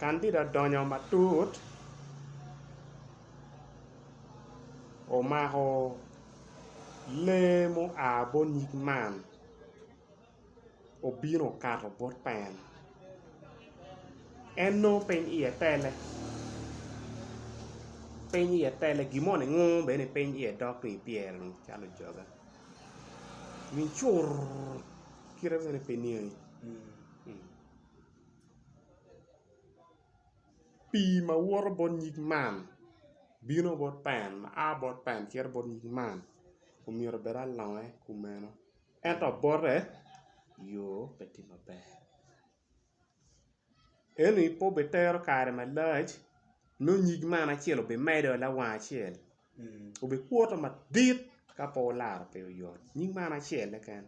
Kandida odonyo matut omako lee mua bot nyig man obino okato bot pa en, en nongo piny iye tele piny iye tele gin moni ngur bene piny iye dok tung pyere calo ojoga. Min cur kite mene pe niangi. Pii ma woto bot nyig man bino bot pen ma a bot pen cito bot nyig man omyero obed alonge kumeno ento bote yoo pe tye maber. Eni pe obitero kare malac nongo nyig man acel obimedo lawang acel obikuto madit ka pe olaro pe oyot nyig man acel-le keken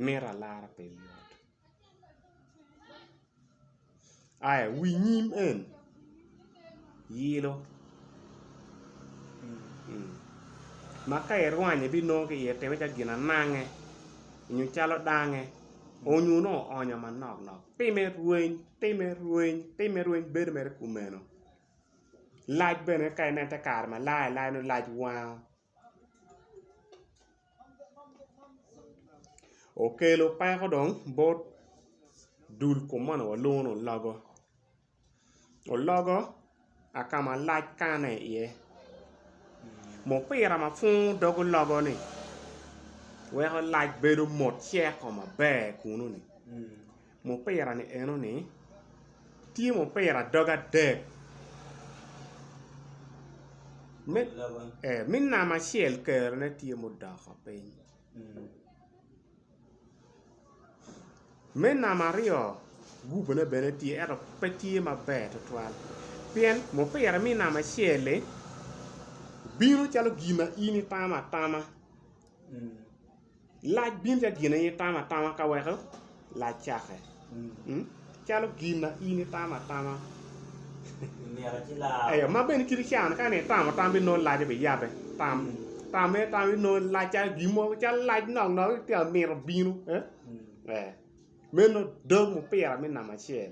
mito alara pe oyot. Aya wi nyim en yilo ma ka irwanye binongo ki iye timme calo ginanange nyo calo dange onyo nongo oonyo manok nok time rweny time rweny time rweny bedo mere kumeno lac bene ka ineno te kare malayo alaya nongo lac wango. Okelo peko dong bot dul kom moni walongo ni ologo, ologo aka malac kane iye mupira ma pwongo dog ologo ni weko lac bedo mot ceko maber kunu ni. Mupira-ni enoni tye mupira dog adek me namba acel kerone tye mudoko piny me namba aryo gubone bene tye ento pe tye maber tutwal pien mupira me namba acel-li bino calo gin ma in itamo atama. Lac bino calo gin ma in itamo atama ka weko lac cake, calo gin ma in itamo atama. Eyo, ma bene kit cawa ni ka ni itamo tam bino nongo lac biyabe, tam tam aye tam bino nongo lac calo gin mo calo lac nok nok ci tye ka mito bino meno dog mupira me namba acel.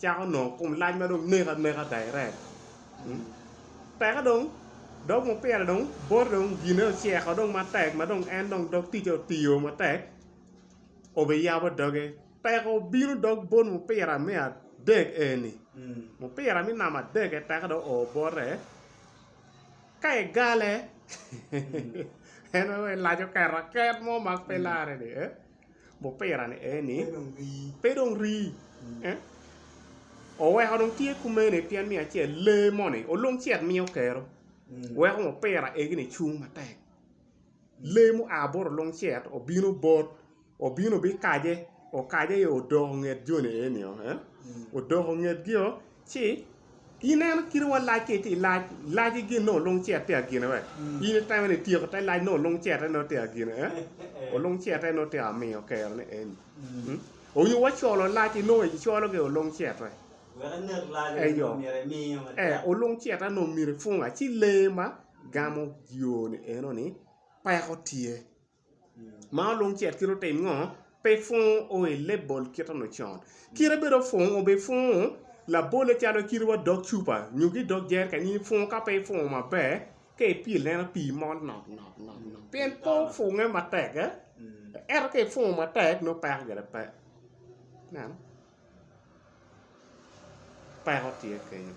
cako nongo kom lac ma dong neko aneka direct teke dong dog mupira dong boti dong gine oceko dong matek ma dong en dong dog ticce otiyo matek obiyabo doge teke obino dog bot mupira me adek eni mupira me namba adek teke dong oo bote ka egale en aye laco keto aket mo ma pe larre ni. Mupira ni eni pe dong rii. Oweko dong tye kumene pien me acel lee moni olung cet miyo kero weko mupira egi ni cung matek lee mua bot olung cet obino bot obino bikace okace aye odoko nget joni eni odoko ngetgi-o Ci ineno kite wa lac ki ti lac laci gin nongo lung cet tye agine we in itemo ni tyeko te lac nongo lung cete nongo tye agine eh o lung cete nongo tye amiyo kero ni eni hmm onyo wa colo laci nongo i colo gi o lung cet we eyo eh o lung cete nongo myero ifunga ci lee ma gamo yoo ni eno ni peko tye ma olung cet kit otim ngo pe pwongo o i label kit eno con kit bene opwongo obi pwongo labole calo kit wa dog cupa nyo ki dog jerican in ipwongo ka pe ipwongo maber ka ipile ma pii mol nok nok nok nok pien pe opwonge matek ento ka ipwongo matek nongo peko gire pe ineno peko tye kenyo.